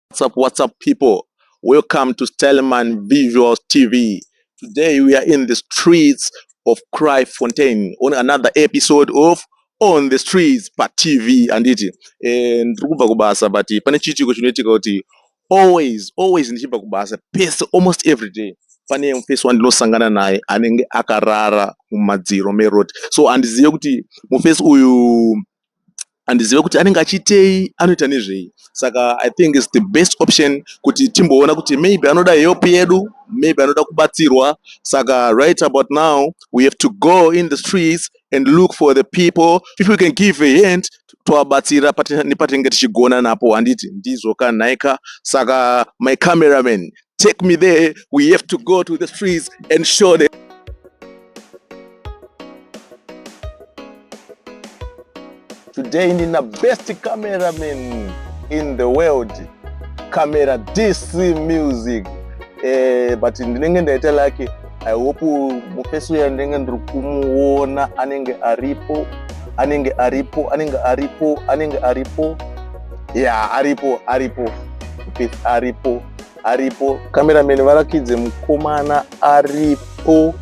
What's up, what's up people? Welcome to Styleman Visuals TV. Today we are in the streets of Cry Fontaine on another episode of On the Streets pa TV anditi. Eh, ndiri kubva kubasa but pane chiitiko chinoitika kuti always always ndichibva kubasa pese almost every day pane mufesi wandinosangana naye anenge akarara mumadziro meroad so handizive kuti mufesi uyu handizive kuti anenge achiitei anoita nezvei saka i think is the best option kuti timboona kuti maybe anoda help yedu maybe anoda kubatsirwa saka right about now we have to go in the streets and look for the people if we can give a hand tovabatsira nepatinenge tichigona napo handiti ndizvo ka nhaika saka my cameraman take me there we have to go to the streets and show them today in the best cameraman in the world camera dc music eh, but ndinenge ndaita lake i hope mufesi uya ndinenge ndiri kumuona anenge aripo anenge aripo anenge aripo anenge aripo ya aripo aripo mufesi aripo aripo cameraman varakidze mukomana aripo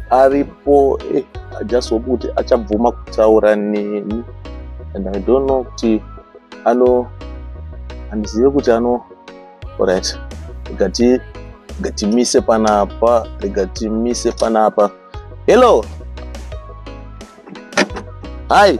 aripo eh, i just hope kuti achabvuma kutaura neni and i don't know kuti ano handizive kuti ano right gati gatimise panapa gatimise panapa hello hi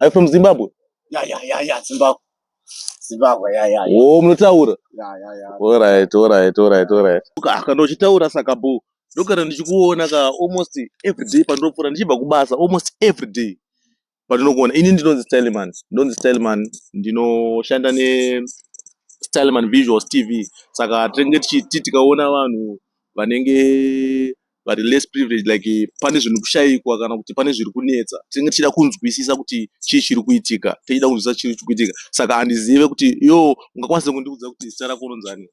Are you from Zimbabwe? Yeah, yeah, yeah, yeah, Zimbabwe. Zimbabwe, yeah, yeah, yeah. Oh, munotaura? Yeah, yeah, yeah. All right, all right, all right, all right. Ka- Kana uchitaura saka boo. Ndogara ndichikuona ka almost every day pandinopfuura ndichibva kubasa almost every day. Pandinokuona ini ndinonzi Styleman. Ndonzi Styleman ndinoshanda ne Styleman Visuals TV. Saka tinenge tichiti tikaona vanhu vanenge vari less privileged like pane zvinhu kushaikwa kana kuti pane zviri kunetsa tinenge tichida kunzwisisa kuti chii chiri kuitika tichida kunzwisisa chiri chiri kuitika saka handizive kuti yo ungakwanise kundiudza kuti zita rako ronzani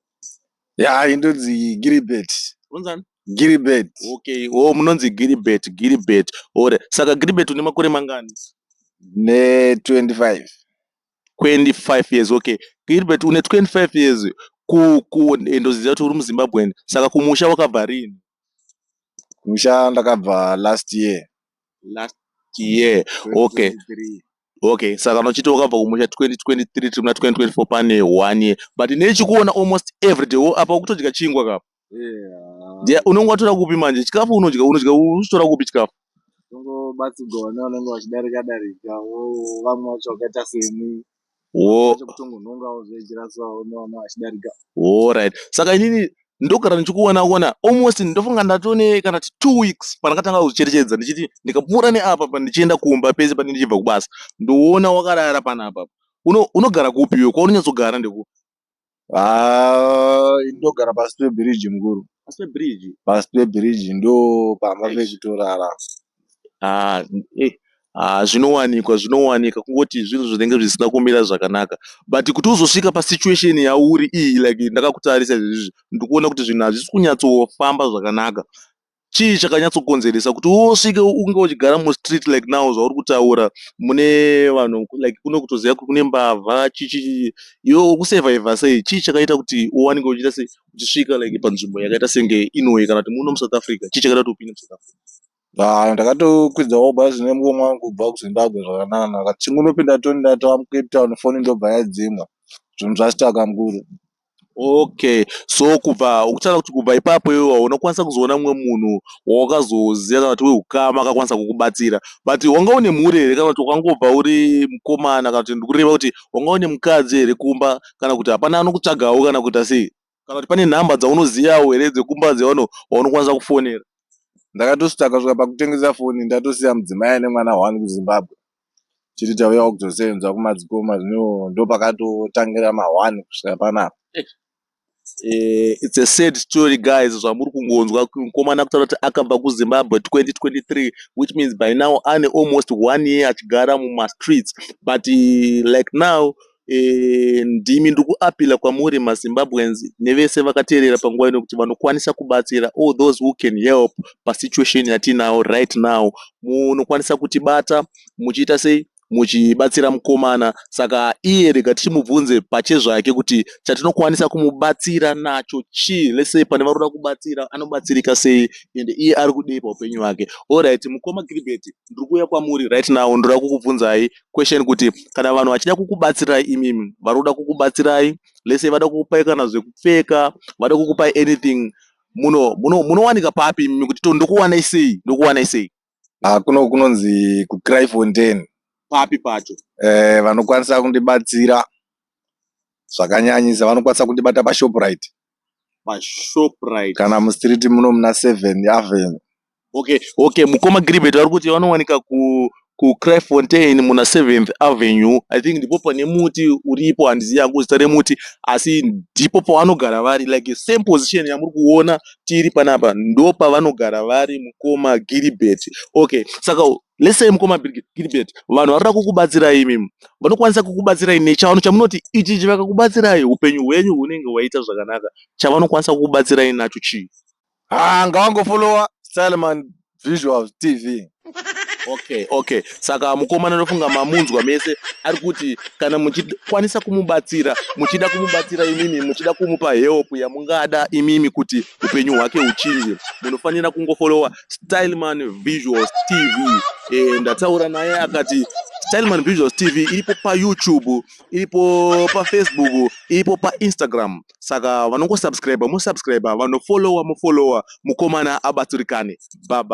ya indonzi giribet ronzani giribet okay o oh, munonzi giribet giribet ore saka giribet une makore mangani ne 25 25 years okay gilbert une 25 years eh, ndoziva kuti uri muzimbabwen saka kumusha wakabva rini musha ndakabva last year last year okay okay saka unochiti wakabva kumusha 2023 tiri muna 2024 pane one year but nechikuona almost every day wo apa ukutodya chingwa kapa Ndiye unenge watora kupi manje chikafu unodya unodya uchitora kupi chikafu? Tongobatsirwa vana vanenge vachidarika darika vamwe vacho vakaita semi kutongonhongawo zvejirasawo nevana vachidarika. Alright. Saka inini ndogara ndichikuona kuona almost ndofunga ndatone kana ti two weeks pandakatanga kucherechedza ndichiti ndikapfuura neapa pandichienda kumba pese panenge ndichibva kubasa ndoona wakarara panapa unogara kupi iwe kwaunonyatsogara ndekupi Ah, ndogara pasi pebiriji mukuru Pasi pebridge. pasi pebiriji ndo pamba Eish. pekutorara Ah, eh, ah, zvinowanikwa zvinowanika kungoti zvinhu zvinenge zvisina kumira zvakanaka but kuti uzosvika pasituation yauri iyi like ndakakutarisa izvizvi ndikuona kuti zvinhu hazvisi kunyatsofamba zvakanaka chii chakanyatsokonzeresa kuti usvike unge uchigara mustreet like now zvauri kutaura mune vanhu like kune kutoziva kuti kune mbavha chichii iwe ukusurvivha sei chii chakaita kuti uwanike uchiita sei uchisvika like panzvimbo yakaita senge inoyi kana kuti muno musouth africa chii chakaita kuti upinde musouth africa haa ndakatokwidzawo bhazi nemukomwa wangu kubva kuzimbabwe zvakananaka chingunopinda toni ndatava mucape town foni ndobva yadzimwa zvinhu zvasitaka mukuru Okay so kubva ukutaura kuti kubva ipapo iwewe hauna kukwanisa kuzoona mumwe munhu wawakazoziva kana kuti wehukama akakwanisa kukubatsira but wanga une mhuri here kana kuti wakangobva uri mukomana kana kuti ndikureva kuti wanga une mukadzi here kumba kana kuti hapana anokutsvagawo kana kuita sei kana kuti pane nhamba dzaunozivawo here dzekumba dzevanhu vaunokwanisa kufonera ndakatosvika kusvika pakutengesa foni ndatosiya mudzimai ane mwana one kuzimbabwe Tiri tauya kuzosevenza kumadzikoma zvino ndopakatotangira ma one kusvika panapa. Eh, it's a sad story guys zvamuri kungonzwa mukomana kutaura kuti akabva kuzimbabwe 2023 which means by now ane almost one year achigara mumastreets but eh, like now Ndimi ndiri kuappealer kwamuri maZimbabweans nevese vakateerera panguva ino kuti vanokwanisa kubatsira all those who can help pasituation yatiinayo right now. Munokwanisa kutibata muchiita sei? Muchibatsira mukomana. Saka iye rega tichimubvunze pachezvake kuti chatinokwanisa kumubatsira nacho chii? Let's say pane varoda kubatsira anobatsirika sei ende iye ari kudei paupenyu hwake. Alright mukoma Gilbert ndiri kuuya kwamuri right now ndoda kukubvunzai Question kuti kana vanhu vachida kukubatsirai imimi vari kuda kukubatsirai let's say vada kukupai kana zvekupfeka vada kukupai anything muno muno munowanika papi imimi kuti to ndokuwanai sei ndokuwanai sei Ah, kuno kunonzi kuCryfontein papi pacho eh, vanokwanisa kundibatsira zvakanyanyisa vanokwanisa kundibata paShoprite paShoprite kana mustreet muno muna seven avenue okay okay mukoma Gilbert vari kuti vanowanika ku kuCryfontein muna 7th Avenue I think ndipo pane muti uripo handizivi yangu zita remuti asi ndipo pavanogara vari like same position yamuri kuona tiri panapa ndo pavanogara vari mukoma Gilbert okay saka lesei mukoma gilbert vanhu vanoda kukubatsirai imimi vanokwanisa kukubatsirai nechavanhu chamunoti ichi chi vakakubatsirai upenyu hwenyu hunenge hwaita zvakanaka chavanokwanisa kukubatsirai nacho chii haa ngavangofolowa styleman visuals tv okay okay saka mukomana anofunga mamunzwa mese ari kuti kana muchikwanisa kumubatsira muchida kumubatsira imimi muchida kumupa help yamungada imimi kuti upenyu hwake huchinje munofanira kungofolowa Styleman Visuals TV e, ndataura naye akati Styleman Visuals TV iripo paYouTube, iripo paFacebook, iripo paInstagram. Saka vanongosubscriber, mosubscriber, vanofollower, mofollower, mukomana abatsirikane. Baba.